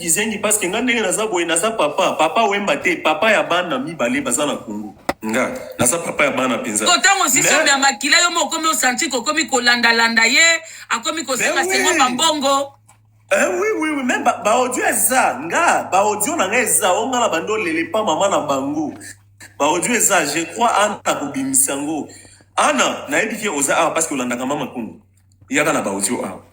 kizengi parce que nga ndenge naza boye naza papa papa wemba te papa ya bana mibale baza na kongo nga naza papa ya bana mpenza kotango sisobe ya makila yo moko okomi osanti kokomi kolandalanda ye akomi kosenga sengo bambongo Eh, oui, oui, oui, même ba, ba audio eza nga ba audio na nga eza o nga na bando lele pa mama na bango ba audio eza je crois ana kobimisa yango ana nayebi ke oza awa parce que olandaka mama kundu Yaka na ba audio awa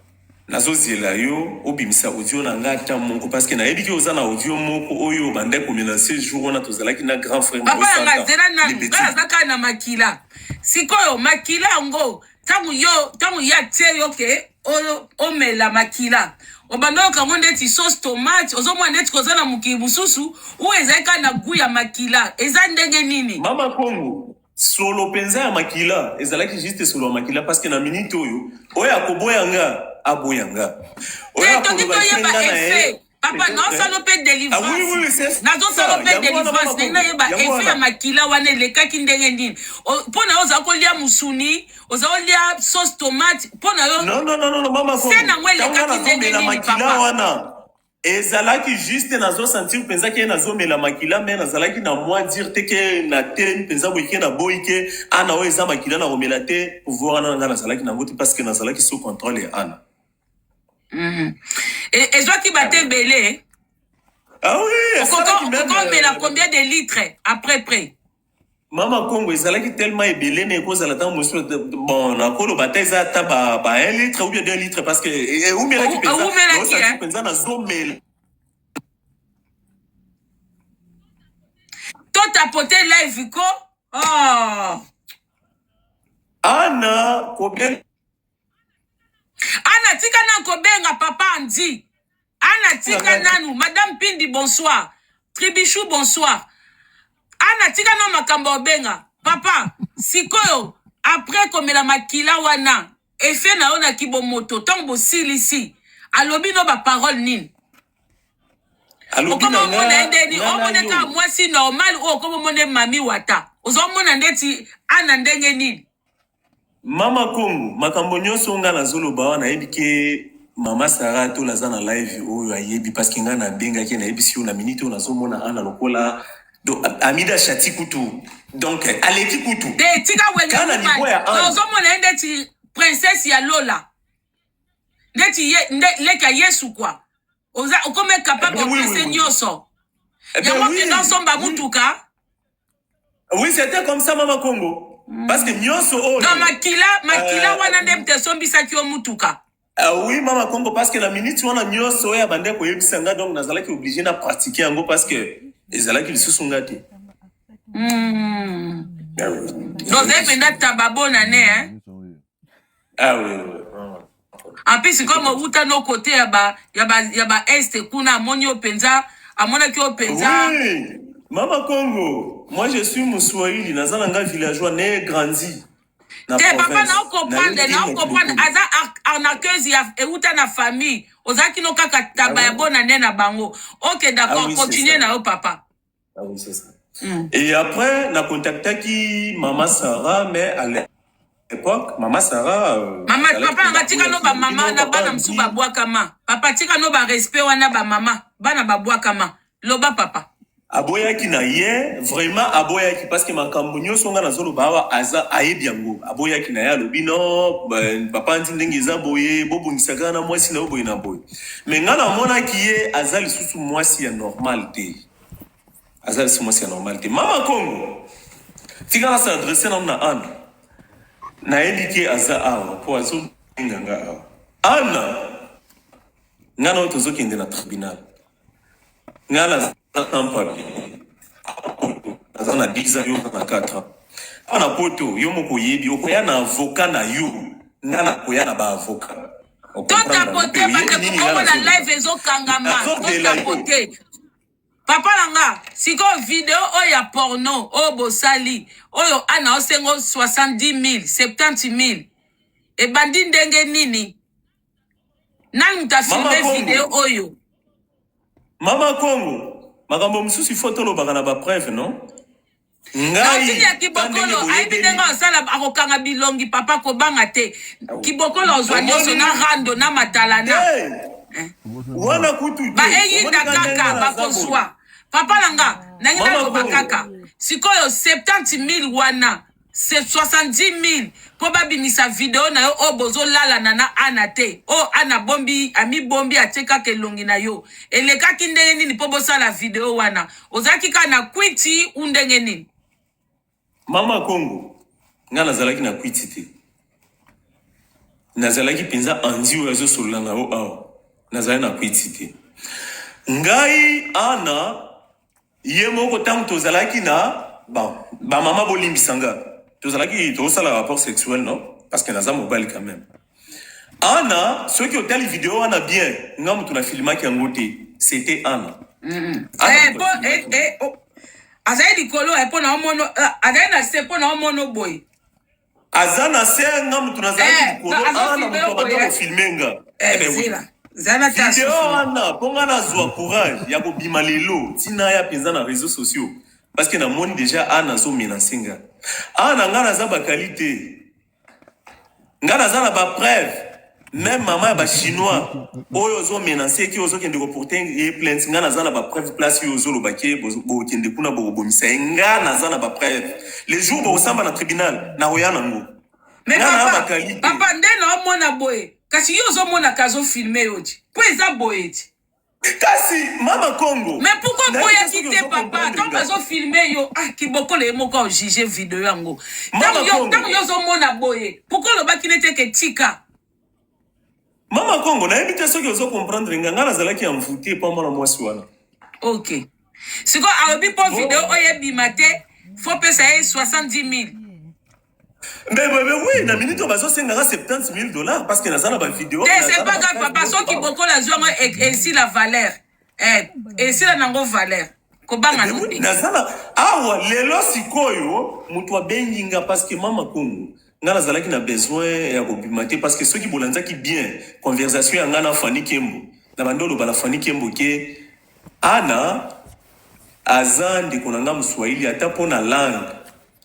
nazo zela yo obimisa audio na nga ata moko parce que nayebi ke oza na audio moko oyo obandaki ko menance jour wana tozalaki na grand frère papa ya nga zela nanu nga naza kaka na makila sikoyo makila yango ntango yo ntango ye atie yo ke omela makila obanda oyoka yango ndeti sauce tomate ozomona ndeti koza na mokili mosusu oyo ezali kaka na gu ya makila eza ndenge nini mama kongo solo penza ya makila ezalaki juste solo ya makila parce que na minute oyo oyo akoboya nga aboya nga oyo eh, akoloba esenga na ye papa nazosala mpe délivrance nazosala mpe délivrance ndenge nayeba efe ya makila wana elekaki ndenge nini mpo na yo oza kolia mosuni oza kolia sauce tomate mpo na yo se nango elekaki ndenge nini papa Ezalaki juste nazo sentir penza ke nazo mela makila mais nazalaki na mua dire te ke na telemi penza boye ke na boyi ke Anna oyo eza makila nako mela te pouvoir wana na nga nazalaki nango te parce que nazalaki sous controle ya Anna. Mhm. E, ezwaki bate ebele. Ah oui, Okoko- esalaki meme, okomela euh, combien de litres après près Mama Kongo ezalaki tellement ebele mais ekozala tango mosusu bon nakoloba ata eza ata ba ba 1 litre ou bien 2 litre parce que eumelaki penza eumelaki hein penza na zomela to tapoter live ko oh Anna kobenga Anna tika na kobenga papa Andy Ana tika nanu madame Pindi bonsoir Tribichou bonsoir Ana tika nanu makambo ya obenga papa sikoyo après komela makila wana effet na yo na kibomoto ntango bosilisi alobi no baparole nini Alobi okoma na omona ye nga, ndeni nga na omona yo. kaka mwasi normal oyo okoma omona ye mami wata ozomona ndeti ana ndenge nini Mama Kongo, makambo nyoso nga nazo loba awa nayebi ke mama Sarah tola aza na live oyo ayebi parce que nga nabengaki ye nayebisi yo na minute oyo nazo mona Anna lokola donc Amida Shati kutu donc aleki kutu Te tika wenge Kana mobali. niveau ya Anne. Nazomona ye ndeti princesse ya lola. Ndeti ye nde leki ya Yesu kwa. Oza okome capable Eh ben oui, oui, opese oui. nyoso. Eh ben Yango oui. kenda osomba mutuka. Oui, c'était comme ça, Mama Congo. Mm. Parce que nyoso oyo. Oh, Donc makila, makila euh, wana nde mte sombisaki yo mutuka. Uh, oui, Mama Congo, parce que la minute wana nyoso oyo oh, abandaki koyebisa nga donc nazalaki obligé na pratiquer yango parce que ezalaki lisusu nga te. Mm. Ah, oui. Donc ozali mpenza tababona ne hein? Ah oui, oui. En plus comme uta no côté ya ba ya ba ya ba est kuna amoni yo penza amonaki yo penza Oui, Mama Congo, moi je suis Muswahili, naza na nga villageois, né et grandi na te papa province. nao comprendre Nayebi nao te comprendre mokili. aza ar- arnaqueuse ya euta na famille ozalaki no kaka taba ya bona ne na bango ok Ah d'accord oui, c'est continue ça. na yo papa Ah oui, c'est ça. Mm. Et après, na contactaki Mama Sarah, mais à l'époque, Mama Sarah. Euh, mama, papa, nga tika no ba mama na bana msu ba bwakama. Papa, tika no ba respect wana ba mama, bana ba bwakama. Loba papa. aboyaki na ye vraiment aboyaki parce que makambo nyonso ngai nazoloba awa aza ayebi yango aboyaki na ye alobi no papa nti ndenge eza boye bobongisa kaka na mwasi na yo boye na boye me ngai namonaki ye aza lisusu mwasi ya normal te aza lisusu mwasi ya normal te mama kongo tika na se adresse nanu na ana nayebi ke aza awa mpo azobenga nga awa ana nga na oyo tozokende na tribunal nga naza tampabi aza na 10 ans yo na 4 ans awa na poto yo moko oyebi okoya na avoka na yo nga nakoya na baavoka totapote bandeko bongo na live ezokangama totapote papa na nga sikoyo video oyo ya porno oyo bosali oyo ana osengo 70000 70000 ebandi ndenge nini nani moto afilme video oyo mama kongo makambo mosusu ifo tolobaka na bapreuve non ngai ya kibokolo ayebi ndenge asala akokanga bilongi papa kobanga te kibokolo ozwa nyonso na rando na matalana eh. wana kutu baeyinda kaka bakozwa papa na nga nangi naloba kaka sikoyo 70 000 wana 70 000 mpo babimisa video na yo oyo bozolalana na ana te oyo ana bombi amibombi atie kaka elongi na yo elekaki ndenge nini mpo bosala video wana ozalaki kaka na kwiti u ndenge nini mama kongo ngai nazalaki na kwiti te nazalaki mpenza anzi oyo azosolola na yo awa nazali na kwiti te ngai ana ye moko ntango tozalaki na bamama ba bolimbisa nga tozalaki tosala rapport sexuel non parce que naza mobali quand même Anna, soki otali video wana bien, nga mutu na filmaki yango te, c'était Anna. Mm -hmm. Anna eh, po, eh, eh, oh. Azali likolo eh, po na omono, eh, azali na se po na omono boye. Aza na se nga mutu na zali eh, likolo, Anna mutu abanda ko eh. filmer nga. Eh, eh ben, zila. Oui. video wana mpo ngai nazwa courage ya kobima lelo ntina ya mpenza na réseau sociaux parce que namoni déjà ana azomenase nga ana ngai naza bakali te nga naza na ba preuve meme mama ya bachinois oyo ozo menance ki ozokende koporte ye plainte nga naza na ba preuve place oyo ozoloba ke bokende kuna bokobomisa ye nga naza na ba preuve le jour bokosamba na tribunal nakoya nango me nga na papa bakalite papa nde naomona boye kasi yo ozomonaka azofilme yo ti mpo eza boye ti Kasi mama Congo. Mais pourquoi boya kite papa tant bazo filmer yo ah kibokolo ye moko juger video yango. Tant yo tant yo zo mona boye. Pourquoi loba ki nete ke tika. Mama Congo na yebite soki ozo comprendre nga nga nazalaki envoûté pa mwana mwasi wana. OK. Siko alobi po video oyo ebima te faut pesa ye 70000. Mais, mais, mais oui, na minute bazo senga 70 000 dollars parce que naza na ba vidéo. Eh, c'est pas grave papa, soki boko la zwa moi et si la valeur. Eh, et si la nango valeur. Kobanga eh, oui, naza na awa lelo sikoyo mutu abengi nga parce que mama Kongo nga nazalaki na besoin ya kobima te parce que soki bolanzaki bien conversation ya nga na Fanny Kembo na bando oloba na Fanny Kembo ke Ana aza ndeko na nga muswahili ata mpo na langue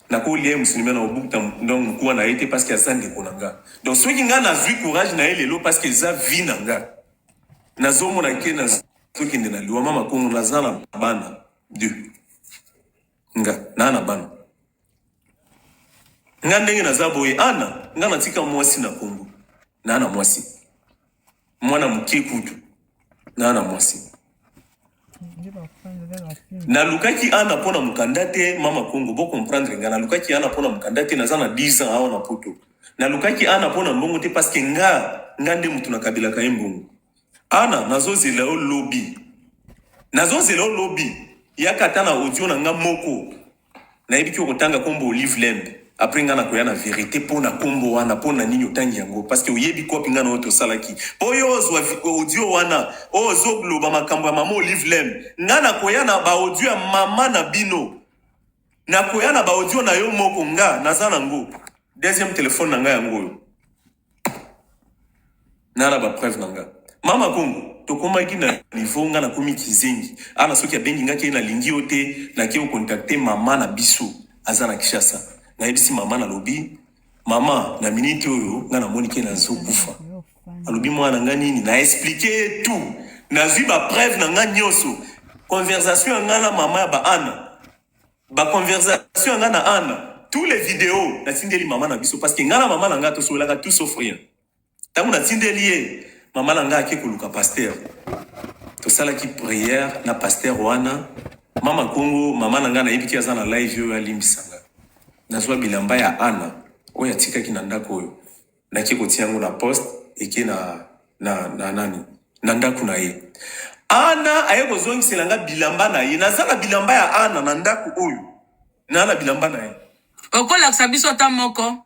nakolia ye mosuni me nakobukta donc mokuwa na ye te parce que aza ndeko na nga donc soki nga nazwi courage na ye lelo parce que eza vie na nga nazomona ke nazokende na liwa mama kongo naza na bana de nga naa na bana nga ndenge naza boye ana nga natika mwasi na kongo na na mwasi mwana moke kutu na na mwasi nalukaki ana mpo na mokanda te mama kongo bocomprendre nga nalukaki ana mpo na mokanda te naza na 10 ans awa na poto nalukaki ana mpo na mbongo te parceke nga nga nde motu nakabelaka ye mbongo Anna nazo zela yo lobi. Nazo zela yo lobi. Yaka ata na audio na nga moko. Nayebi ki okotanga kombo Olive Lembe. Après nga na koya na verite po na kombo wana po na nini otangi yango parce que oyebi coop nga na yo tosalaki. Po yo ozwa audio wana ozo loba makambo ya maman Olive Lembe. Nga na koya na ba audio ya maman na bino. Nakoya na ba audio na yo moko nga naza na ngo deuxième telephone na nga yango oyo na na ba preuve na nga mama kongo tokomaki na niveau nga nakomi kizengi ana soki abengi nga ke nalingi yo te nake ocontacte mama na biso aza na kishasa nayebisi mama nalobi Maman na minute oyo nga na moni ke na zo kufa alobi mwana na nga nini na explique ye tout nazwi ba preuve na nga nyonso conversation ya nga na mama ya ba ana ba conversation ya nga na ana tous les videos natindeli mama na biso parce que nga na mama na nga tosololaka tout sauf rien Tango na tindeli ye, mama na ngai ake koluka pasteur. Tosalaki prière na pasteur wana. Mama Kongo, mama na ngai nayebi ke aza na live oyo alimbisa nga. Nazua bilamba ya Anna oyo atikaki na ndako oyo. Nake kotia yango na poste eke na, na, na nani? Na ndako na ye. Anna aye kozongisela nga bilamba na ye. Naza na bilamba ya Anna na ndako oyo. Naza na bilamba na ye. Okolakisa biso ata moko?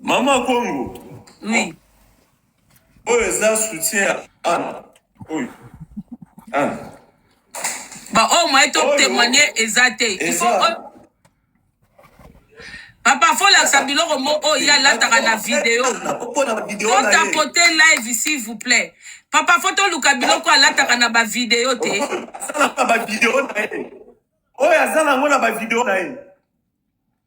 Mama Kongo. Oui. Oyo eza soutien ya ana. Oyo. Ana. Ba oyo oh, moyen to témoigner eza te. Il faut oh. Papa faut lakisa biloko moko oyo ye alataka na video. Faut tapoter live s'il vous plaît. Papa faut toluka biloko alataka na ba video te. Asalaka ba video na ye. Oyo aza nango na ba video na ye.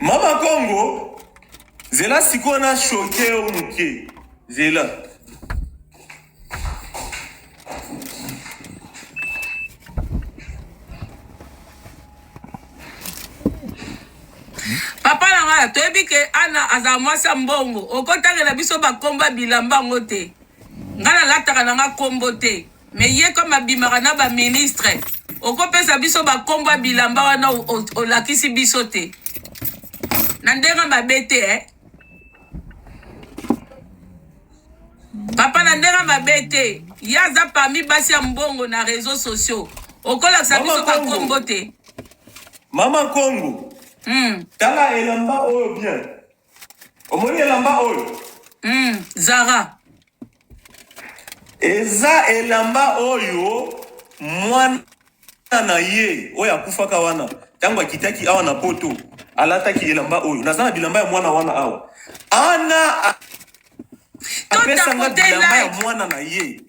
Mama Kongo, zela sikoyo na shoke yo moke, zela papa na ngai toyebi ke ana azala mwasi ya mbongo okotangela biso bakomba bilamba yango te ngai nalataka na ngai kombo te Mais ye comme abimaka na ba ministre, okopesa biso ba kombo ya bilamba wana olakisi biso te. Na ndenge mabe te eh. Papa na ndenge mabe te. Ye aza parmi basi ya mbongo na réseaux sociaux. Okolakisa biso ba kombo te. Mama Kongo. Hmm. Tala elamba oyo bien. omoni elamba oyo mm, zara eza elamba oyo mwana na ye oyo akufaka wana ntango akitaki awa na poto alataki elamba oyo naza na bilamba ya mwana wana awa ana apesanga bilamba ya mwana na ye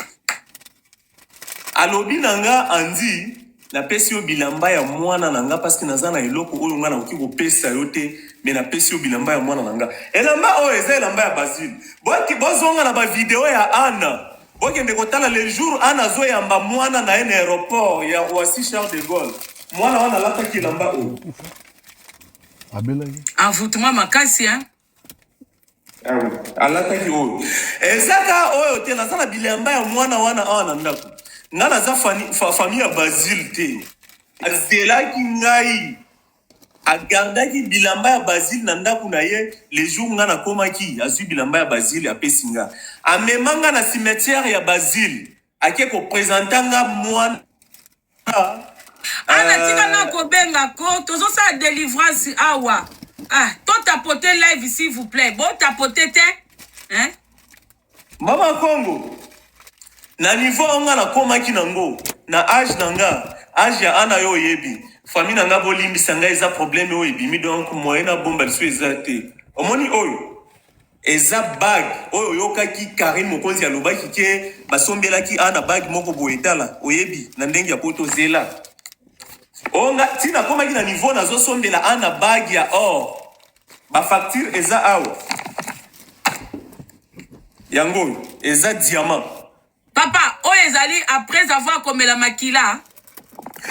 Alobi na nga Andy na pesi yo bilamba ya muana na nga parce que naza na eloko oyo nga nakoki ko pesa yo te mais na pesi yo bilamba ya muana na nga elamba oyo eza elamba ya Basile boki bozonga na ba video ya Anna bokende kotala le jour Anna azo yamba muana na ye na aeroport ya Roissy Charles de Gaulle muana wana alataki elamba oyo abelaki envoûtement makasi hein alataki oyo ezaka oyo te naza na bilamba ya mwana wana awa na ndako nga naza famille ya basile te azelaki ngai agardaki bilamba ya basile na ndako na ye le jour nga nakomaki azwi bilamba ya basile apesi nga amema nga na cimetière ya basile ake kopresenta nga mwana Ana tika na kobenga ko tozosala delivrance awa ah, to tapote live s'il vous plaît bo tapote te hein? mama kongo na niveau oyo nga nakomaki nango na age na nga age ya ana yo oyebi famille na nga bolimbisa nga eza problème oyo ebimi donc moyen na bomba lisu eza te omoni oyo Eza bague oyo oyokaki carine mokonzi alobaki ke basombelaki ana bague moko boye tala oyebi na ndenge ya poto zela onga ti nakomaki na niveau nazosombela ana bague ya or bafacture eza awa yango oyo eza diamant Papa, oyo ezali après avoir komela makila.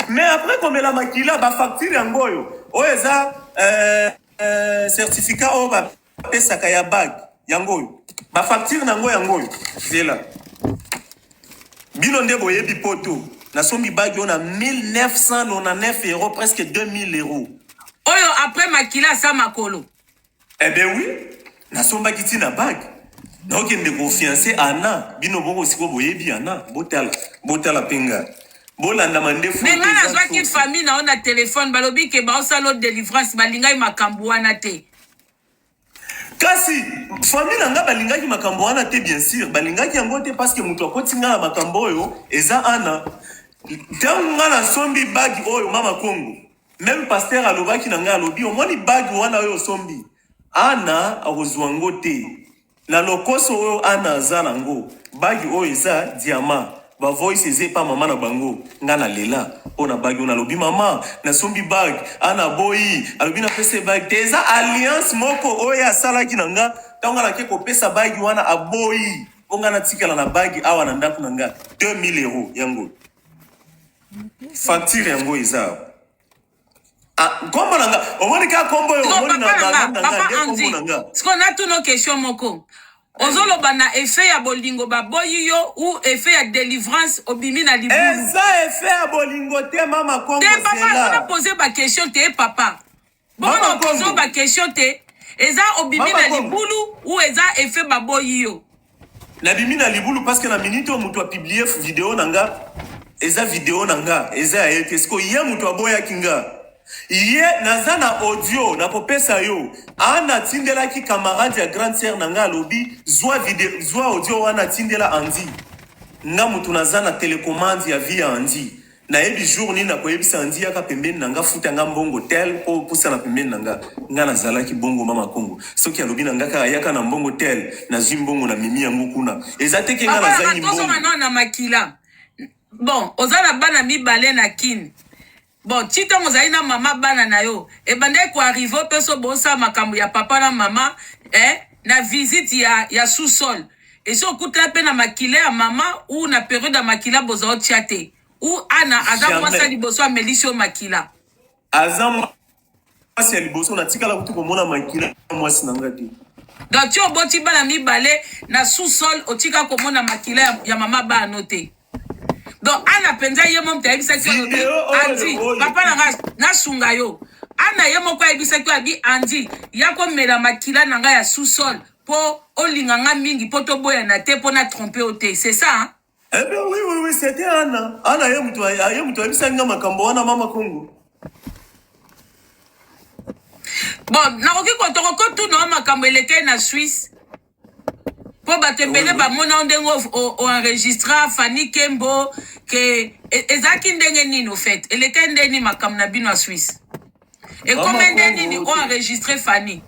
Mais après komela makila, ba facture yango oyo. Oyo eza euh, euh, certificat oyo ba pesaka ya bague yango oyo. Ba facture nango yango oyo. Zela. Bino nde boyebi poto. Nasombi bague oyo na 1999 euros, presque 2000 euros. Oyo après makila sa makolo. Eh ben oui, nasombaki ti na bague. Naokende ko fiancer Anna, bino boko siko boyebi Anna, botala, botala pe nga. Bolanda mandefu. Mais nga nazwaki famille na yo na telefone, balobi ke baosala yo delivrance, balingaki makambo wana te. Kasi famille na nga balingaki makambo wana te, bien sûr, balingaki yango te parce que moto akoti nga na makambo oyo eza Anna. Ntango nga nasombi bague oyo, mama Kongo, Meme pasteur alobaki na ngai alobi omoni bague wana oyo osombi Anna akozua ngo te na lokoso oyo Anna aza na ngo bague oyo eza diamant ba voice eza epa maman na bango ngai na lela pona bague wana alobi maman na sombi bague Anna aboyi alobi na pesa ye bague te eza alliance moko oyo ye asalaki na nga tango nga nake kopesa bague wana aboyi po nga natikala na bague awa na ndaku na nga 2000 euros yango facture yango eza nkombo ah, na nga omoni kaka nkombo yo omoni na nga na nga nde nkombo na nga sikoyo natuna question moko ozoloba na effet ya bolingo baboyi yo ou effet ya délivrance obimi na libulu eza effet ya bolingo te mama kongo te papa azona pose baquestion te papa Boko pozo ba question te. Eza obimi na libulu ou eza effet baboyi yo. Nabimi na libulu parce que na minute oyo moto a publie video na nga eza video na nga eza ya ye te siko ye moto aboyaki nga ye naza na audio nakopesa yo ana atindelaki camarade ya grande sœur na nga alobi zwa video zwa audio wana atindela andi nga moto naza na telecommande ya vie ya andi Nayebi jour nini nakoyebisa Andy yaka pembeni na nga futa nga mbongo tel po opusana pembeni na nga. Nga nazalaki bongo mama Kongo. Soki alobi na nga kaka yaka na mbongo tel nazui mbongo na memi yango kuna. Eza te ke nga Papa na nazangi tozo mbongo. manor na makila bon oza na bana mibale na kin bon ti ntango ozali na mama bana na yo ebandaki koarrive opeso bosala makambo ya papa na mama eh, na visite ya, ya sous-sol esi okutela mpe na makila ya mama u na periode ya makila boza otya te u ana aza Jamais. mwasi ya liboso amelisi yo makila aza mwasi ya liboso natikala kutu komona makila ya mwasi na ngai te donc ti oboti bana mibale na sous-sol otika komona makila ya, ya mama bano te donc ana mpenza ye mo moto ayebisaki alobi andi papa na ngai nasunga yo ana ye moko ayebisaki oyo abi andi ya komela makila na ngai ya sous-sol mpo olinga ngai mingi mpo toboyana te mpo na trompe yo te c'est ça hein? Eh bien, oui, oui, oui, c'était Anna. Anna, ye moto ye moto ayebisaki nga makambo wana mama Kongo. Bon, nakoki kotoko kotuna makambo elekei na Suisse. mpo bato ebele bamona yo ndenge oenregistra fani kembo ke e, ezalaki ndenge nini ofete elekei nde nini makambo na bino ya swisse ekome nde nini oenregistre fani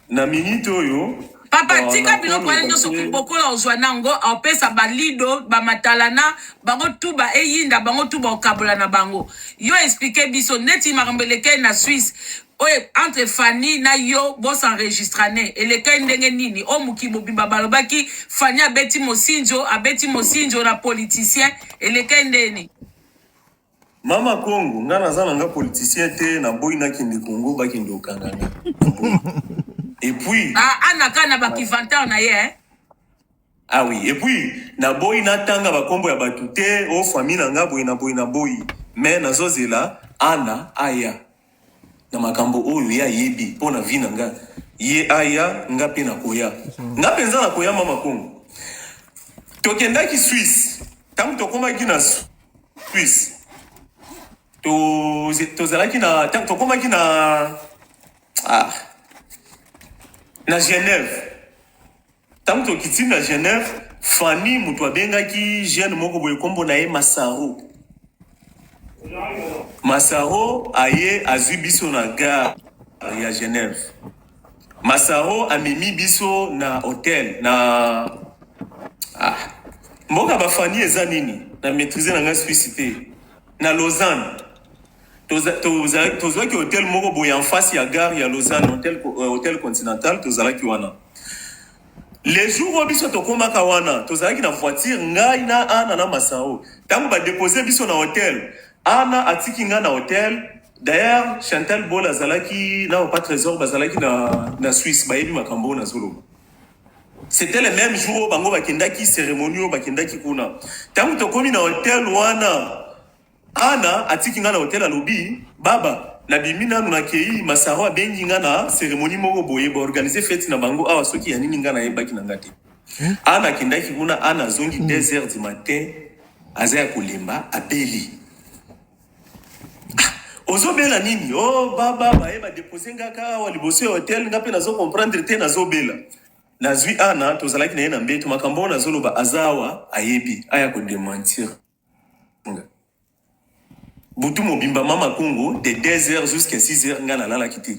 na minute oyo papa tika biloko wana nyonso bokola ozwa nango opesa balido bamatalana bango tu ba eyinda bango tu baokabola na bango yo explike biso neti makambo elekei na swisse Oyo entre Fanny na yo bo s'enregistrane elekaki ndenge nini oyo mokili mobimba balobaki Fanny abeti Mosinzo abeti Mosinzo na politicien elekaki ndenge nini? Mama Kongo nga naza na nga politicien te na boyi na kende Kongo ba kende okanga nga. Et puis Ah, Anna kaka na ba kivantar na ye hein. Ah oui et puis na boyi na tanga ba kombo ya batu te o oh, famille na nga boyi na boyi na boyi mais nazo zela ana aya na makambo oyo ye ayebi mpo na vie na nga ye aya nga mpe nakoya nga mpenza nakoya mama kongo tokendaki swisse ntango tokomaki na swisse tozalaki na ntango tokomaki na ah, na genève Tango tokiti na Genève, Fanny mutu abengaki jeune moko boye kombo na ye Masaro. Masaro aye azui biso na gare ya Genève. Masaro amemi biso na hotel na ah, mboka ba Fanny eza nini? Na maîtriser na ngai Suisse te. Na Lausanne. Toza- toza- tozwaki hotel moko boye en face ya gare ya lausanne hotel, co- euh, hotel continental tozalaki wana le jour oyo biso tokomaka wana tozalaki na voiture ngai na ana na masao ntango badepose biso na hotel ana atiki ngai na hotel d'ailleurs chantal bol azalaki na papa trésor bazalaki na, na suisse bayebi makambo oyo nazoloba c'était le même jour oyo bango bakendaki cérémonie oyo bakendaki kuna ntango tokomi na hotel wana Anna atiki nga na hotel alobi baba na bimi nanu na keyi masaro abengi nga na ceremonie moko boye ba organiser fete na bango awa soki ya nini nga na yebaki na nga te hmm? Anna akendaki kuna Anna azongi 2 hmm. heures du matin aza ya kolemba abeli ozobela nini o oh, baba baye badepose nga kaka awa liboso ya hotel nga mpe nazo comprendre te nazobela nazwi ana tozalaki na ye na mbeto makambo oyo nazoloba aza awa ayebi aya kodementir butu mobimba mama congo de 2h jusqu'à 6h ngai nalalaki te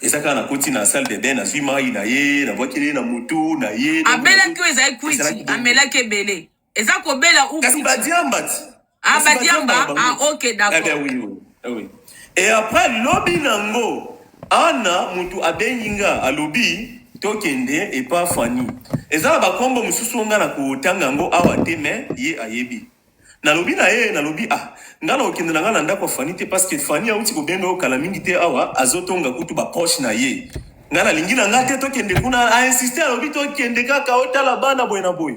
eza kaka nakoti na salle de bain nazwi mai na ye nabwakeli ye na motu na ye abelaki oyo ezali kwiti amelaki ebele eza kobela kasi badiambati ah badiamba ah ok d'accord eh Eh oui. Et après lobi nango Anna mutu abengi nga alobi tokende epa Fanny. Eza na bakombo mosusu nga na kotanga yango awa te mais ye ayebi. Nalobi na ye nalobi ah nga na okende na nga na ndako ya Fanny te parce que Fanny auti kobenga yo kala mingi te awa azotonga kutu ba proche na ye. Nga nalingi na nga te tokende kuna a insister alobi tokende kaka otala bana boye na boye.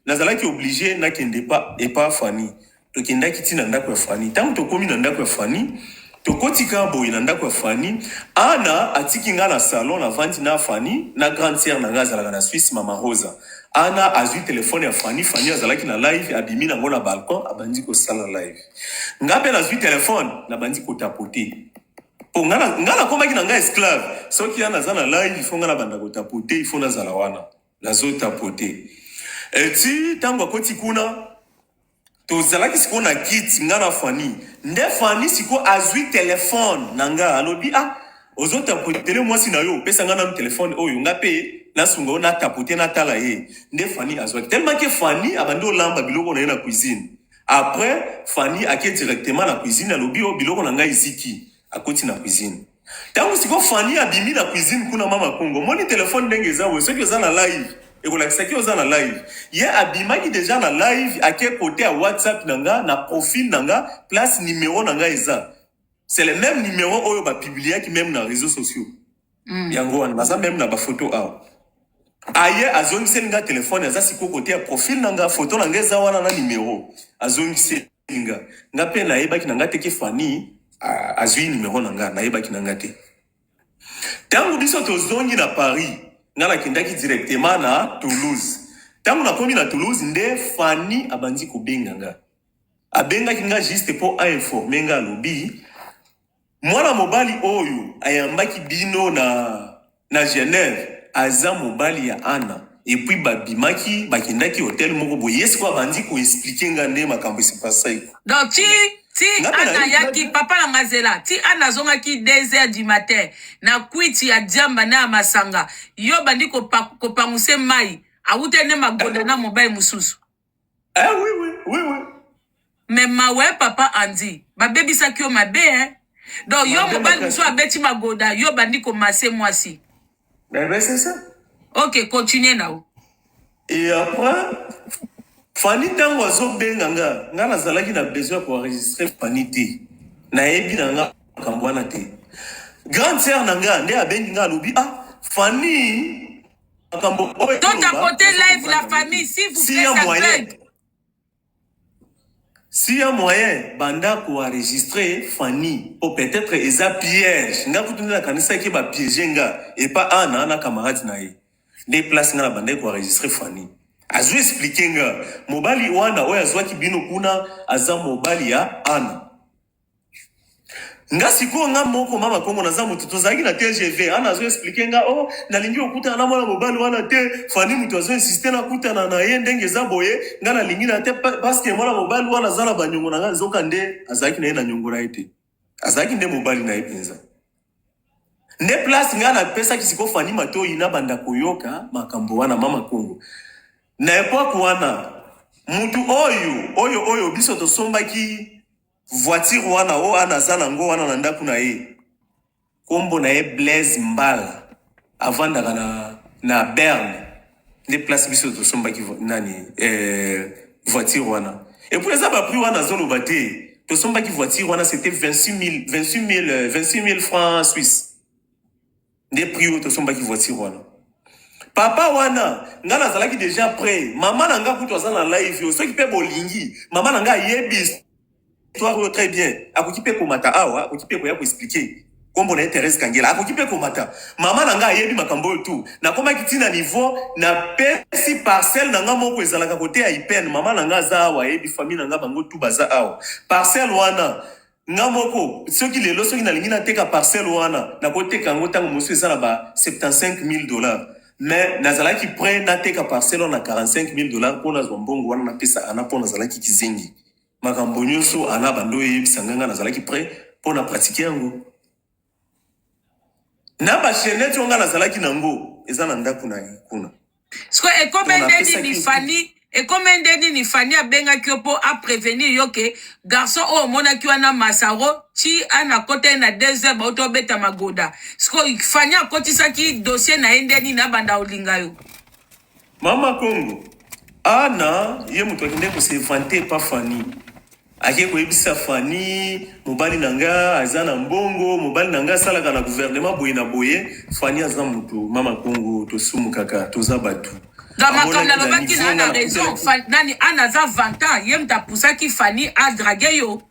Nazalaki oblige nakende pa epa Fanny. Tokendaki ti na ndako ya Fanny. Tango tokomi na ndako ya Fanny, tokoti kaka boye na ndako ya Fanny. Anna atiki nga na salon, navandi na Fanny na grande soeur na nga azalaka na Suisse, mama Rosa. Anna azui telephone ya Fanny, Fanny azalaki na live, abimi nango na balcon, abandi kosala live. Nga pe nazui telephone, nabandi ko tapoter. Po nga, nga nakomaki na nga esclave. Soki Anna aza na live, il faut nga nabanda ko tapoter, il faut nazala wana. Nazo tapoter. Et ti tango akoti kuna, Tozalaki sikoyo na kiti nga na Fanny nde Fanny sikoyo azui telephone na nga alobi ah ozo tapotele mwasi na yo pesa nga nanu telephone oyo nga pe nasunga yo na tapote na tala ye nde Fanny azuaki tellement que Fanny abandi olamba biloko na ye na cuisine après Fanny ake directement na cuisine alobi oh biloko na nga eziki akoti na cuisine Tangu siko Fanny abimi na cuisine kuna mama Congo omoni telephone ndenge eza boye soki oza na live ekolakisa ki oza na live ye abimaki deja na live ake kote ya whatsapp na nga na profil na nga place numero na nga eza c'est le même numero oyo ba publiaki meme na réseaux sociaux mm. yango wana naza meme na ba photo awa aye azongiseli nga telephone aza siko kote ya profil na nga photo na nga eza wana na numero azongiseli Nga nga pe nayebaki na nga te ke Fanny ah, azui numero na nga, nayebaki na nga te. Tango biso tozongi na Paris, nga nakendaki directement na Toulouse. Tango nakomi na Toulouse nde Fanny abandi kobenga nga. Abengaki nga juste po a informer nga alobi Mwana mobali oyo ayambaki bino na, na Genève, aza mobali ya Anna. Et puis babimaki, bakendaki hotel moko boye. Ye sikoyo abandi ko expliquer nga nde makambo e se passaki. Donc ti, ti Nga pe Anna nayoki nga ayaki, papa na nga zela, ti Anna azongaki deux heures du matin na kwiti ya diamba na ya masanga, yo obandi kopa, kopanguse mayi, awutaki nde magoda na mobali mosusu. Eh oui oui oui oui. Mais mawa papa Andy, babebisaki yo mabe hein. Donc yo Mabe mobali makasi. mosusu abeti magoda, yo bandi komase mwasi. Eh ben c'est ça. Ok, continue na yo. Et après, Fanny ntango azobenga nga, nga nazalaki na besoin ya koenregistre Fanny te. Nayebi na nga makambo wana te. Grande sœur na nga nde abengi nga alobi, ah, Fanny makambo oyo Don't toloba, tapoter ezo live la comprendre famille, s'il vous S'il y plaît, a ça moyen, bug. s'il y a moyen, banda ko enregistrer Fanny. Po peut-être eza piège. Nga kutu nde nakanisaki ba piège nga et pas Anna na camarade na ye. Nde place nga na bandaki ko enregistrer Fanny. Azo expliquer nga mobali wana oyo azwaki bino kuna aza mobali ya Anna. nga sikoyo nga moko mama kongo naza moto tozalaki na tgv ana azo explike nga oh nalingi okutana na mwana mobali wana te fani moto azo insiste nakutana na ye ndenge eza boye nga nalingi na te pa- paske mwana mobali wana aza na banyongo na nga nzoka nde azalaki na ye na nyongo na ye te azalaki nde mobali na ye mpenza nde place nga napesaki sikoyo fani matoyi nabanda koyoka makambo wana mama kongo na epoke wana mutu oyo oyo oyo biso tosombaki Voiture wana oyo ana aza nango wana na ndaku na ye kombo na ye Blaise mbala avandaka na na berne nde place biso tosombaki nani eh, voiture wana et puis eza ba prix wana azoloba te tosombaki voiture wana c'était 26000 26000 26000 francs suisse nde prix oyo tosombaki voiture wana papa wana nga nazalaki deja près mama na nga kutu aza na live yo soki mpe bolingi mama na nga ayebi histoire oyo très bien akoki mpe komata awa akoki mpe koya koexplike nkombo na ye therese kangela akoki mpe komata mama na nga ayebi makambo oyo tu nakomaki ntina niveau napesi parcelle na nga moko ezalaka kote ya ipene mama na nga aza awa ayebi famille na nga bango tu baza awa parcelle wana Nga moko soki lelo soki nalingi nateka parcelle wana nakoteka yango ntango mosusu eza na ba 75000 dollars mais nazalaki prêt nateka parcelle wana na 45000 dollars mpo nazwa mbongo wana napesa ana mpo nazalaki kizengi makambo nyonso ana bando eyebisa nga nga nazalaki prêt mpo na pratique yango na ba chainette oyo nga nazalaki na ngo eza na ndaku na ye kuna sikoyo ekome nde nini fani ekome nde nini fani abengaki yo mpo aprevenir yo ke garçon oyo omonaki wana masaro ti ana kota ye na deux heures bauti obeta magoda sikoyo fani akotisaki dossier na ye nde nini abanda olinga yo Mama Congo, Anna ye moto akendeki ko se vanter epa Fanny, akei koyebisa Fanny mobali na nga aza na mbongo, mobali na nga asalaka na gouvernement boye na boye, Fanny aza moto mama Congo tosumukaka toza batu. Donc makambo Amonaki na nalobaki na niveau nga Anna na raison, kotelaki. Fa- nani Anna aza vantant, ye moto apusaki Fanny a draguer yo.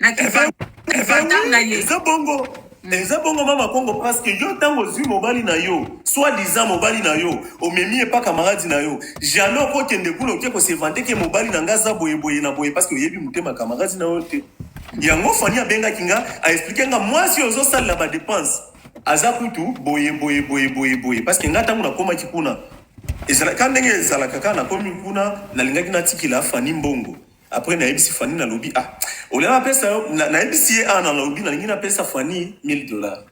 na ki Efe- efe- fantame na oui, ye. eza bongo eza bongo mama kongo parce que yo ntango ozwi mobali na yo soit disant mobali na yo omemi ye pa camarade na yo jamais okokende kuna oke kosevante ke mobali na nga aza boyeboye na boye parce que oyebi motema camarade na yo te yango fani abengaki nga aexplike nga mwasi oyo ozosalela badepense aza kutu boyeboyeboyeboyeboye parce que nga ntango nakomaki kuna ezalaka ndenge ezalaka kaka nakomi kuna nalingaki natikela fani mbongo Après nayebisi Fanny nalobi ah olia napesa yo na- nayebisi ye ah nalobi nalingi napesa Fanny 1000 dollars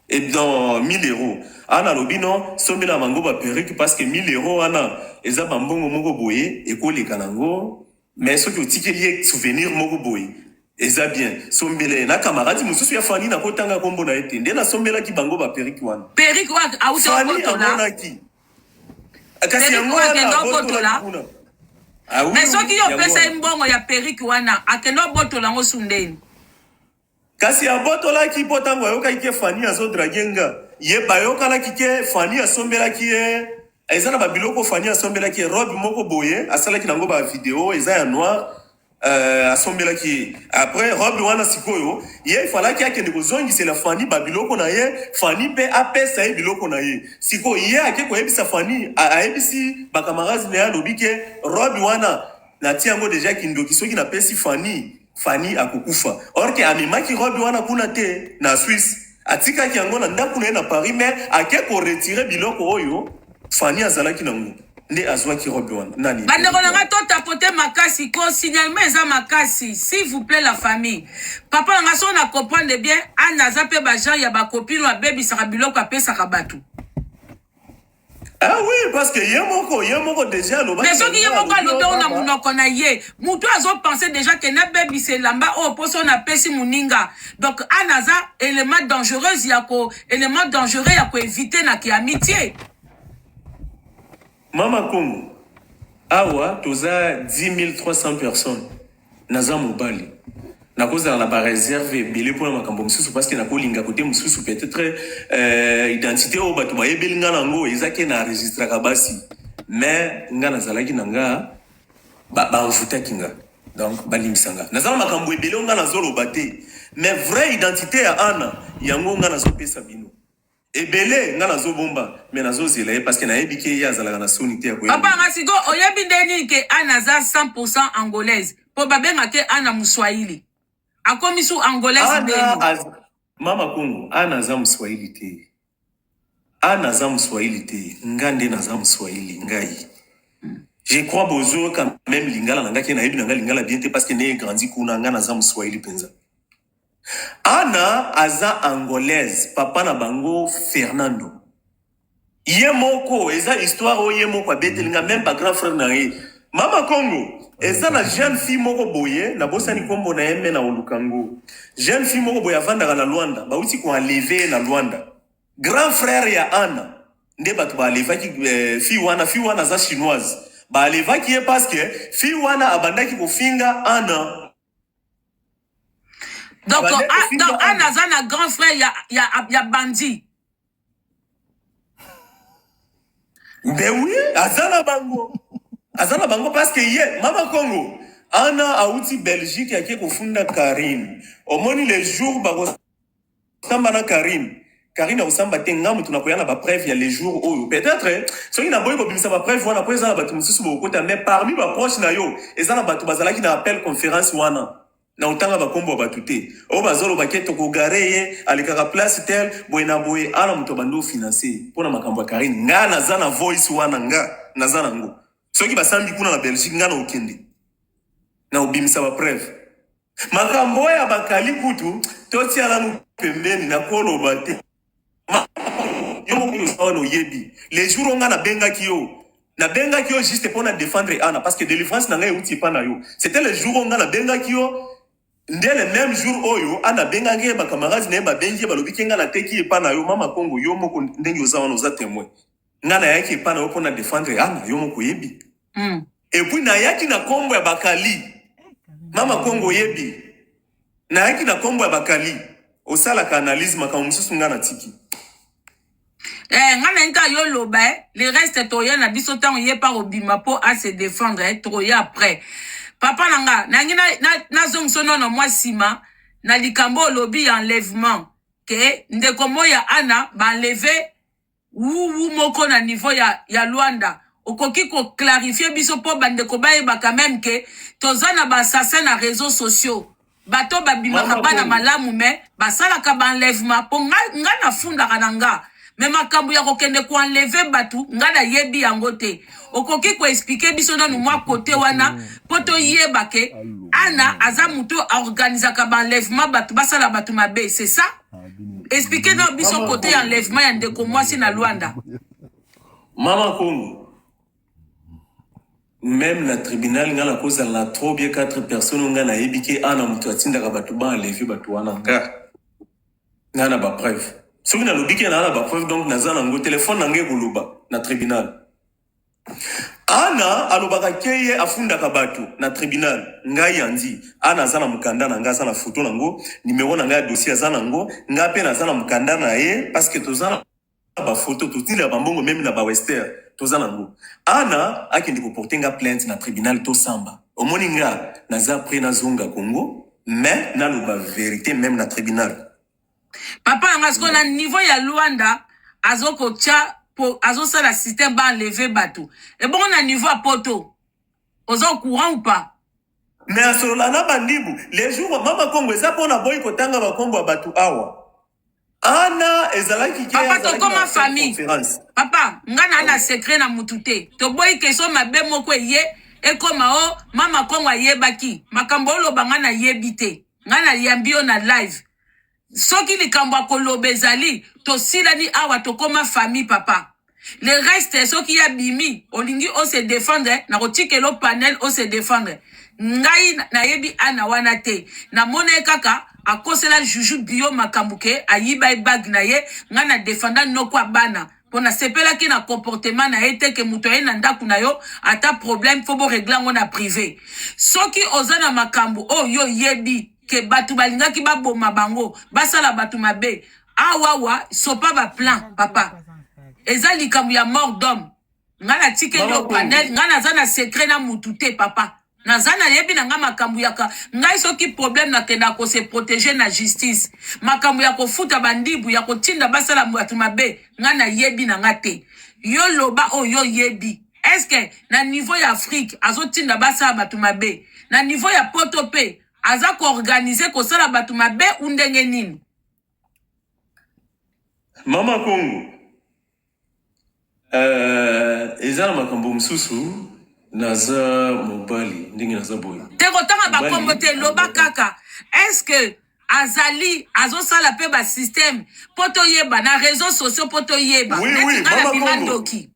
et dans 1000 euros ah nalobi non sombela bango ba perruque parce que 1000 euros wana eza ba mbongo moko boye ekoleka nango mais soki otikeli ye souvenir moko boye eza bien sombela ye na camarade mosusu ya Fanny nakotanga kombo na ye te nde nasombelaki bango ba perruque wana perruque wana auta Fanny okotola amonaki Ah, kasi yango wana abotola kuna ah, me soki yo opesa ye mbongo ya perike wana akende obotola yango su ndeni kasi abotolaki mpo ntango ayokaki ke fani azodrage nga ye bayokanaki ke fani asombelaki ye eza na babiloko fani asombelaki ye robe moko boye asalaki nango bavideo eza ya noir Euh, asombelaki ye après robe wana sikoyo ye falaki akende kozongisela fani babiloko na ye fani mpe apesa ye biloko na ye sikoyo ye ake koyebisa fani ayebisi bakamarade na ye alobi ke robe wana nati yango deja kindoki soki napesi fani fani akokufa orke amemaki robe wana kuna te na swisse Atikaki yango na ndaku na ye na Paris mais ake ko retirer biloko oyo Fanny azalaki na ngo nde azwaki robe wana nani bandeko na ngai totapote makasi ko signalement eza makasi s'il vous plaît la famille papa na ngai soki na comprendre bien ana aza mpe bagenre ya bakopine oyo abebisaka biloko apesaka bato Ah oui, parce que ye moko, ye moko déjà aloba. Mais soki ye moko alobi ona munoko na ye, mutu azo penser déjà que na baby se lamba oh poso na pesi muninga. Donc anaza élément dangereuse ya ko élément dangereux ya ko éviter na ki amitié. Mama Kongo, awa toza 10300 personnes. Naza mobali. Nakozala na ba reserve ebele pona makambo misusu parce que nakolinga kote mususu peut-etre euh, identite oyo bato bayebeli nga nango eza ke na registraka basi mais nga nazalaki na nga banvutaki nga donc balimbisa nga naza na makambo ebele oyo nga nazoloba te mais vrai identite ya ana yango nga nazopesa bino Ebele nga nazo bomba mais nazo zela ye parce que nayebi ke ye azalaka na soni te ya koya. Papa nga sikoyo oyebi nde nini ke Anne aza 100% angolaise po babenga ke Anna muswahili akomi su angolaise nde nini? Mama Kongo, Anna aza muswahili te. Anna aza muswahili te. Nga nde naza muswahili ngai. Je crois bozo quand même lingala na nga ke nayebi na nga lingala bien te parce que ne grandi kuna nga naza muswahili penza. Anna aza angolaise papa na bango Fernando ye moko eza histoire oyo ye moko abeteli nga meme ba grand frère na ye mama Congo eza na jeune fille moko boye na bosani kombo na ye me na oluka ngo jeune fille moko boye avandaka na Luanda bauti ko enleve ye na Luanda grand frère ya Anna nde bato ba enlevaki eh, fille wana fille wana aza chinoise ba enlevaki ye parce que fille wana abandaki kofinga Anna donc ana aza na grand frère ya, ya, ya bandi nde wi aza na bango aza na bango parce que ye mama kongo ana awuti belgique ake kofunda karine omoni le jour bako Samba na Carine. Carine akosamba te nga mutu nakoya na ba preuve ya le jour oyo. Peut-être soki naboyi kobimisa ba preuve wana po eza na batu mosusu bokokota mais parmi ba proche na yo eza na batu bazalaki na appel conference wana. Nakotanga ba kombo ya batu te. Oyo bazoloba ke toko gare ye alekaka place tel boye na boye awa na mutu abandi o financer ye pona makambo ya Carine. Nga naza na voice wana nga naza nango. Soki basambi kuna na Belgique nga nakokende nakobimisa ba preuve. Makambo oyo ya bakali kutu totia nanu pembeni na koloba te. Ma- Yo moko oza wana oyebi le jour oyo nga nabengaki yo nabengaki yo juste mpo na défendre Anna parce que délivrance na ngai euti epa na yo. C'était le jour oyo nga nabengaki yo nde le même jour oyo Anna abengaki ye bakamarade na ye babengi ye balobi ke nga nateki epa na yo mama Kongo yo moko ndenge oza wana oza temoin. nga nayaki epa na yo mpo na defendre ana yo moko oyebi mm. epuis nayaki na kombo ya bakali mama kongo oyebi nayaki na kombo ya bakali osalaka analyse makambo mosusu nga natiki Eh, nga na nta yo loba eh. le reste toya na biso ntango ye pa kobima mpo a se défendre eh. toya après papa na nga nangi nazongisa na, na nono mwa nsima na likambo olobi ya enlèvement ke ndeko moi ya ana baenleve Wuwu moko na niveau ya, ya Luanda okoki ko clarifier biso po bandeko bayeba quand même que toza na ba assassin na réseaux sociaux bato babimaka Mama bana Kongo. malamu me basalaka ba enlèvement po nga, nga nafundaka na nga me makambo ya kokende ko enleve bato nga nayebi yango te okoki ko expliquer biso nanu mwa kote wana po toyeba ke ana aza moto aorganisaka ba enlèvement bato basala bato mabe c'est ça Expliquer na biso Maman côté Congo. enlèvement ya ndeko mwasi na Luanda. Maman Congo. Même na tribunal nga na kozala na trop bien quatre personnes nga na yebi ke ana mutu atindaka batu ba enlever batu wana nga. Nga na ba preuve. Soki na lobi ke na na ba preuve donc naza na ngo téléphone na nga ekoloba na tribunal. Anna alobaka ke ye afundaka batu na tribunal ngai andy anna aza na mukanda na ngai aza na photo na ngo numero na ngai ya dossier aza na ngo ngai pe naza na mukanda na ye parce que toza na ba photo totindaka ba mbongo meme na ba wester toza na ngo anna akende ko porter nga plainte na tribunal to samba omoni nga naza pre nazonga congo mais naloba verite meme na tribunal papa na nga sikoyo na niveau ya luanda azokotya po azosala système ba enleve bato ebongo na niveau ya poto oza au courant ou pas me asolola na bandibu le jour wa mama kongo eza mpo na boyi kotanga bakombo ya bato awa ana ezalaki ke papa azalaki na tokoma affaire famille conférence papa nga na na secret na mutu te toboyi kestion mabe moko eye ekoma o mama kongo ayebaki makambo oloba nga nayebi te nga na yambi yo na live soki likambo akoloba ezali tosilani awa tokoma famille papa le reste soki ya bimi olingi o se defendre na kotikelo panel o se defendre ngai nayebi ana wana te namona ye kaka akosela juju bio makambo ke ayiba ye bague na ye ngai na defenda noko ya bana mpo nasepelaki na comportement na ye te ke moto aye na ndako na yo ata problème fo boregle yango na prive soki oza na makambo oyo oh, yo oyebi ke bato balingaki baboma bango basala bato mabe awawa sopa baplan papa eza likambo ya mort d'homme ngai natikeli yo panel ngai naza na secret na motu te papa naza na yebi na nga makambo yaka ngai soki problème nakendaka ko se protéger na justice makambo ya kofuta bandibu ya kotinda basala bato mabe ngai na yebi na nga te yo loba oyo oh, yebi eske na niveau ya afrique azotinda basala bato mabe na niveau ya poto mpe aza koorganize kosala bato mabe u ndenge nini mama kongo Euh, eza na makambo mosusu naza mobali ndenge naza boye te kotanga Mobali bakombo te loba alobaka. kaka eske azali azosala mpe basysteme mpo toyeba na réseau sociaux mpo toyeba Oui, oui, neti nga na Mama bima Kongo. ndoki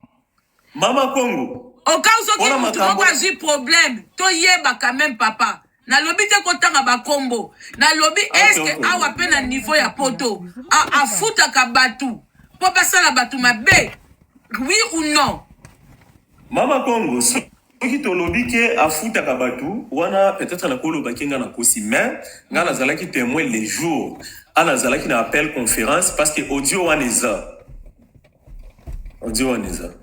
mama kongo okau soki Wana motu moko makambo- azwi problème toyeba quand même papa nalobi te kotanga bakombo nalobi ah, eske awa mpe na niveau ya poto afutaka bato mpo basala bato mabe oui ou non mama kongo soki tolobi ke afutaka bato wana peut-être nakolobaki nga nakosi mais nga nazalaki témoin le jour a nazalaki na appel conférence parce que audio wana eza Odi waniza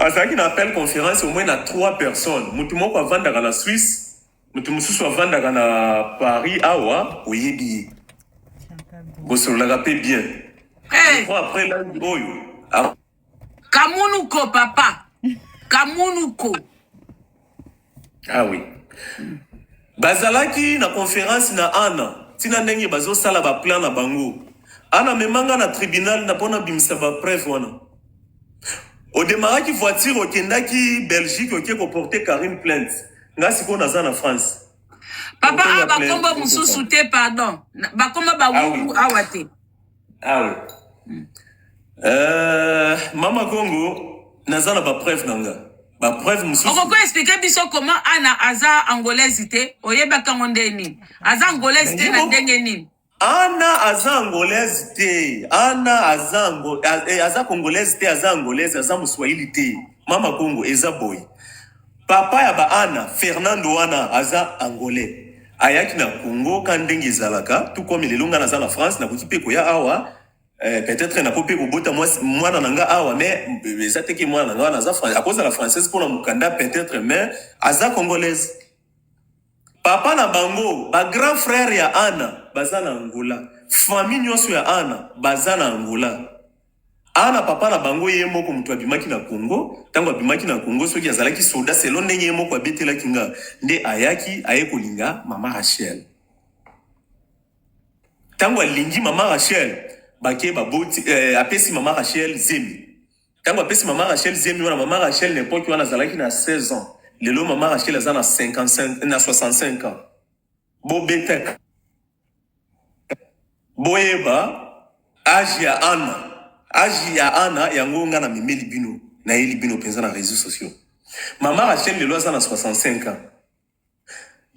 azalaki na appel conference au moins na trois personnes, mutu moko avandaka na Suisse, mutu mosusu avandaka na Paris awa oyebi ye bosololaka pe bien Eh, Bon, après lundi oyo a- kamunuko papa kamunuko Ah oui. Bazalaki na conference na Anna, tina ndenge bazosala ba plan na bango. Anna memanga na tribunal na pona bimisa ba preuve wana. Odemaraki voiture okendaki Belgique okie ko porter Karim plainte. Nga sikoyo naza na France. Papa a bakombo mususu te pardon. Bakombo ba ah, oui. awa te. Ah oui. Mm. Euh, Mama Congo, naza na ba preuve na nga. Ba preuve mosusu. Okoko expliquer biso comment Anna aza angolaise te, oyebaka ngo ndenge nini? Aza angolaise te na ndenge nini? Anna aza angolaise te. Anna aza ango, eh, aza congolaise te, aza angolaise, aza muswahili te. Mama Congo eza boye. Papa ya ba Anna Fernando wana aza angolais ayaki na Congo ka ndenge ezalaka tout comme lelo nga naza na France nakoki pe koya awa eh, peut-être nako pe kobota mwasi- mwana na nga awa mais eh, eza te ke mwana na nga wana aza Fran- akozala française mpo na mokanda peut-être mais aza congolaise papa na bango ba grand frère ya Anna baza na Angola famille nyonso ya Anna baza na Angola A na papa na bango ye moko mutu abimaki na Congo, tango abimaki na Congo soki azalaki soda selon ndenge ye moko abetelaki nga nde ayaki aye kolinga mama Rachel. Tango alingi mama Rachel bake baboti eh, apesi mama Rachel zemi. Tango apesi mama Rachel zemi wana mama Rachel na epoque wana azalaki na 16 ans. Lelo mama Rachel aza na 55 na 65 ans. bobetaka boyeba age ya ana age ya ana yango nga na memeli bino nayeli bino mpenza na réseaux sociaux mama rachel lelo aza na 65 ans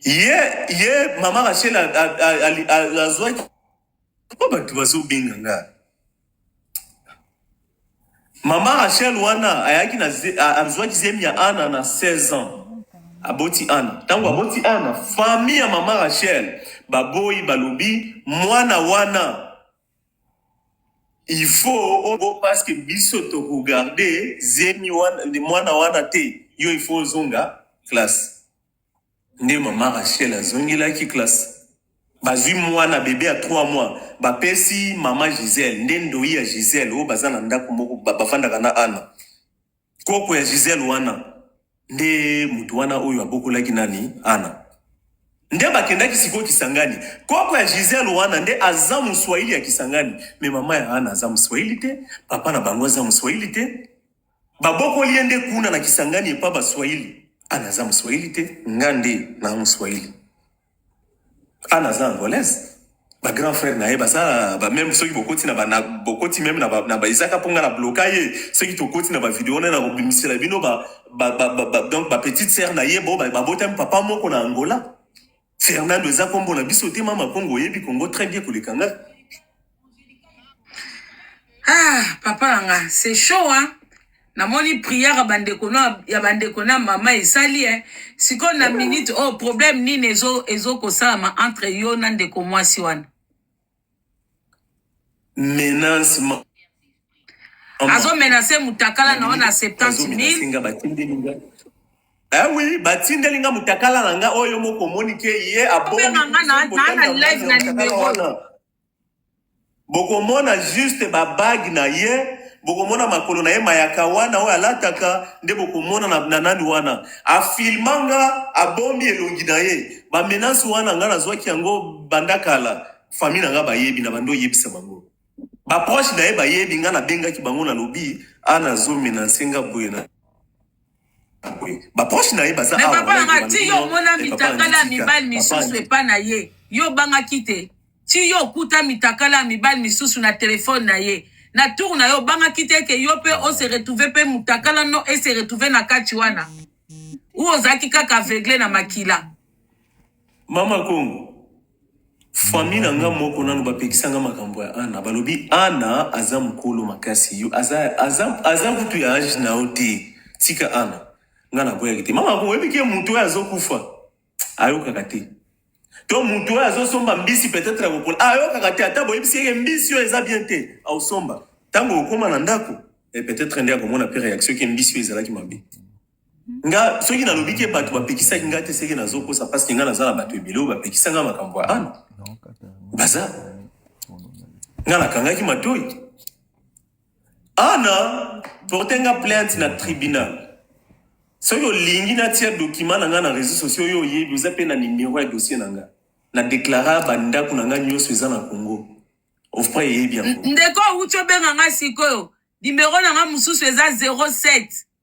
ye ye mama rachel azwaki po bato bazobenga nga Mama Rachel wana ayaki na azwaki zemi ya Ana na 16 ans. Aboti Ana. Tango aboti Ana, famille ya Mama Rachel baboyi balobi mwana wana il faut obo parce que biso to regarder zemi wana mwana wana te. Yo il faut ozonga classe. Nde mama Rachel azongelaki classe. Bazui muana bebe ya trois mois bapesi mama Gisele nde ndoyi ya Gisele oyo baza na ndaku moko bafandaka na Anna. Koko ya Gisele wana nde mutu wana oyo abokolaki nani Anna. Nde bakendaki sikoyo Kisangani. Koko ya Gisele wana nde aza muswahili ya Kisangani mais mama ya Anna aza muswahili te, papa na bango aza muswahili te. Babokoli ye nde kuna na Kisangani epa ba Swahili. Ana aza Mswahili te, nga nde na Mswahili. Ana aza Angolaise. Ba grand frère na ye baza ba même soki bokoti na ba na bokoti même na ba na ba ezaka ponga na bloka ye soki tokoti na ba video na na kobimisela bino ba ba, ba, ba, ba donc ba petite sœur na ye bo ba, babotami papa moko na Angola. Fernando eza kombo na biso te mama kongo oyebi kongo très bien koleka nga. Ah papa na nga c'est chaud hein. Namoni prière ya bandeko na ya bandeko na mama esali hein. Siko na minute oh problème nini ezo ezo kosalama entre yo na ndeko mwasi wana. menace ma azo menace mutakala na yo na 70000 Eh oui, batindeli nga mutakala na nga oyo moko moni ke ye obenga nga na na na live na numero bokomona juste ba bague na ye bokomona makolo na ye mayaka wana oyo alataka nde bokomona na, na nani wana afilma nga abomi elongi na ye ba menace wana nga nazwaki yango banda kala famille na nga bayebi na bando oyebisa bango baproche na ye bayebi nga nabengaki bango nalobi a nazomenanse nga boye na boye baproche na ye baza me papa na nga ti yo omona mitakala ya mibali misusu epa na ye yo obangaki te ti yo okuta mitakala ya mibali misusu na telefone na ye na tour na yo obangaki te eke yo mpe ose retrouve mpe motakala no ese retrouve na kati wana ou ozalaki kaka aveugle na makila Mama Kongo, famille na nga moko nanu bapekisa nga makambo ya Anna. Balobi Anna aza mukolo makasi, yo aza aza aza kutu ya age na yo te. Tika Anna. Nga naboyaki te. Mama Kongo, oyebi ke mutu oyo azokufa. ayokaka te to moto oyo azosomba mbisi peut-être akokola ayokaka te ata boyebisi yeke mbisi oyo eza bien te aosomba ntango okoma na ndako e peut-être nde akomona mpe réaction ke mbisi oyo ezalaki mabe nga soki nalobi ke bato bapekisaki nga te seke nazokosa parceke nga naza na bato ebele oyo bapekisa nga makambo ya ana baza nga nakangaki matoi Ana, porte nga plainte na tribunal. Soki olingi natia document na nga na réseaux sociaux yo oyebi oza pe na numero ya dossier na nga. Na declara ba ndako na nga nyoso eza na Congo. Ofpra eyebi yango. Ndeko ucho benga nga sikoyo. Numero na nga mususu eza 07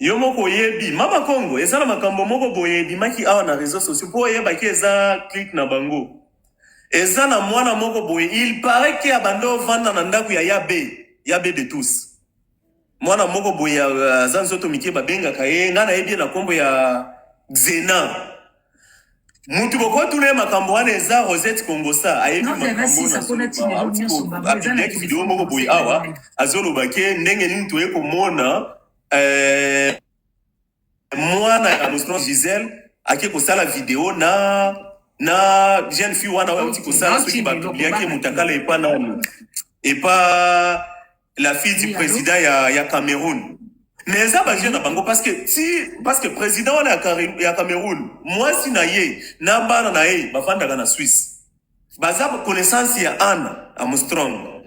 Yo moko oyebi mama kongo eza na makambo moko boye ebimaki awa na reseau sociaux po oyebaki eza clique na bango eza na mwana moko boye il parait que abanda ovanda na ndaku ya ya be ya be de tous mwana moko boye aza nzoto mike babengaka ye nga nayebi ye na kombo ya xena mutu bokotuna ye makambo wana eza rosette kongosa ayebi makamboapidiaki video moko boye awa azoloba ke ndenge nini toye komona eh, mwana ya mosno gisele ake kosala video na na jeune fille wana oyo auti kosala soki bapubliaki ye motakala epa nani epa la fille du Oui, allô? president ya, ya Cameroun mais eza ba vieux na bango parce que ti parce que president wana ya, Kare- ya Cameroun mwasi na ye na bana na ye bafandaka na Suisse baza ba connaissance ya Anna Armstrong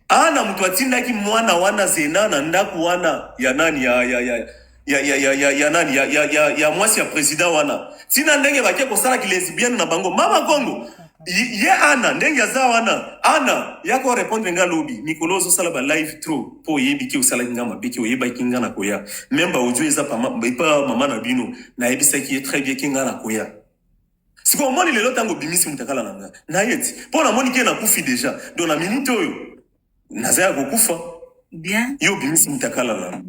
Anna moto atindaki mwana wana zena na ndako wana ya nani ya, ya, ya, ya ya ya ya ya nani ya ya ya, ya mwasi ya president wana tina ndenge bake kosala kilesibienne na bango mama kongo Ye ye ana ndenge aza wana ana yako repondre nga lobi mikolo ozosala ba live trop po oyebi ke osalaki nga mabe ke oyebaki nga na koya meme ba audio eza pa ma- epa mama na bino nayebisaki ye très bien ke nga na koya sikoyo omoni lelo ntango obimisi motakala na nga nayeti mpo namoni ke nakufi deja don na minute oyo naza ya kokufa bien yo obimisi mitakala na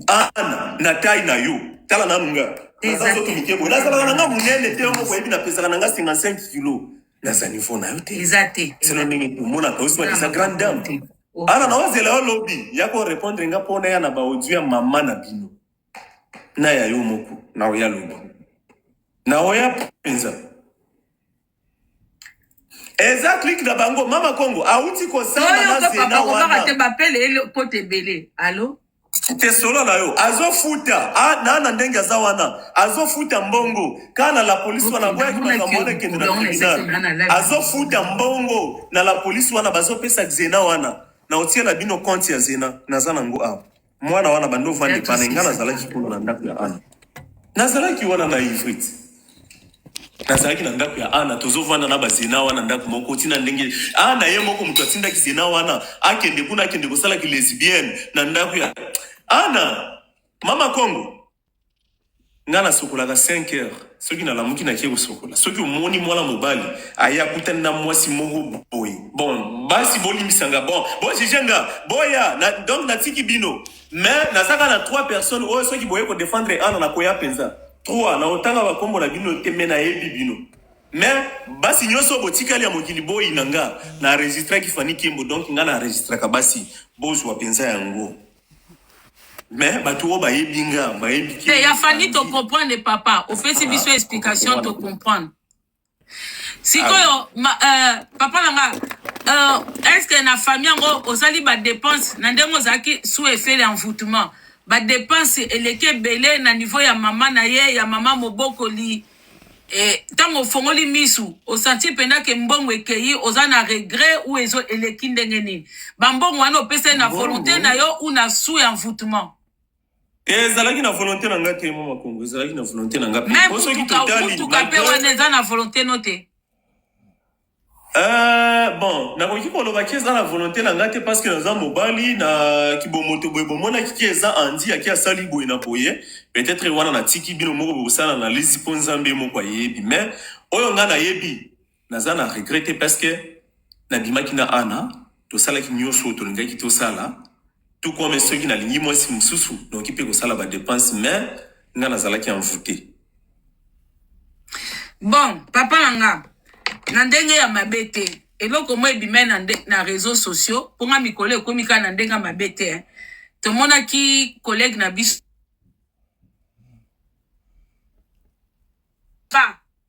nga ana na tai na yo tala nanu nga naza Eza nzoto te. mike boye nazalaka na nga monene te yo moko oyebi napesaka na nga 55 kilo naza niveau na yo te eza te selo ndenge tomonaka yo soit disa grande dame Te. Oh. ana na ozela yo lobi ya ko répondre nga mpo naya na baaudio ya mama na bino na ya yo moko na oya lobi na oya mpenza eza clique na bango mama kongo awuti kosamba na zena wana te bapele ele kote ebele alo te solo na yo azofuta ah, na na ndenge aza wana azofuta mbongo kaka na la polisi wana boyaki makambo wana ekende na tribunal azofuta mbongo na la polisi wana bazopesa zena wana na otiela bino konte ya zena naza nango awa mwana wana bando vanda epa na nga nazalaki kuna na ndako ya ana nazalaki wana na ifrit nazalaki na ndako ya ana tozovanda na bazena wana ndako moko ntina ndenge ana ye moko moto atindaki zena wana akende kuna akende kosala kilesibienne na ndako ya ana mama kongo Nga na sokolaka 5 heures soki na lamuki na kie kosokola soki omoni mwana mobali aye akutani na mwasi moko boye bon basi bolimbisa nga bon bo juge nga boya na, donc natiki bino mais nazaka na trois personnes oyo soki boye ko défendre ana na koya penza trois na otanga bakombo na bino te mais nayebi bino mais basi nyonso botikali ya mokili boyi na nga na enregistraki Fanny Kembo donc nga na enregistraka basi bozwa penza yango mais bato oyo bayebi nga bayebi te ya fani to comprendre papa ofesi biso ah, explication to comprendre sikoyo ah. euh, papa na nga euh, est ce que na famille yango ozali badepense na ndenge ozalaki sous effet ya envoutement badepense eleki ebele na niveau ya mama na ye ya mama mobokoli E, ntango ofongoli misu osanti mpenza ke mbongo ekeyi oza na regret ou ezo eleki ndenge nini bambongo wana opesa ye na volonte na yo ou na su ya envoûtement eh, ezalaki na volonte na nga te mo makongo ezalaki na volonte na nga mpe soki totali motuka mpe wana eza na volonte no te Euh, bon, nakoki koloba ki eza na volonté na nga te parce que naza mobali na kibomoto boye bomonaki ki eza Andy aki asali boye na boye peut-être wana natiki bino moko bokosala analyse mpo Nzambe moko ayebi mais oyo nga nayebi naza na regret te parce que nabimaki na Anna tosalaki nyonso oyo tolingaki tosala Tout comme soki nalingi mwasi mosusu, nakoki mpe kosala ba depenses mais nga nazalaki envoute. Bon, papa na nga, na ndenge ya mabe te. Eloko moko ebimai na, na réseaux sociaux, mpo nga mikolo ekomi kaka na ndenge ya mabe te. Eh. Tomonaki collègue na biso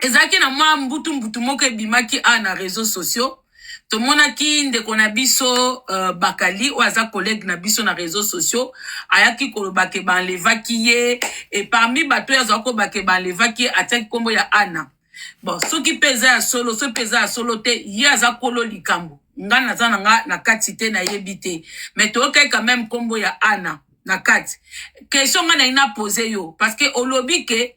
ezalaki na mwa mbutu mbutu moko ebimaki a na réseau sociaux tomonaki ndeko na biso uh, bakali oyo aza collègue na biso na réseau sociaux ayaki koloba ke banlevaki ye e parmi bato oyo azalaki koloba ke banlevaki ye atiaki nkombo ya ana bon soki mpe eza ya solo soki mpe eza ya solo te ye aza kolo likambo nga naza na nga na kati te nayebi te mais toyokaki quand même nkombo ya ana na kati question nga na ina pose yo parce que olobi que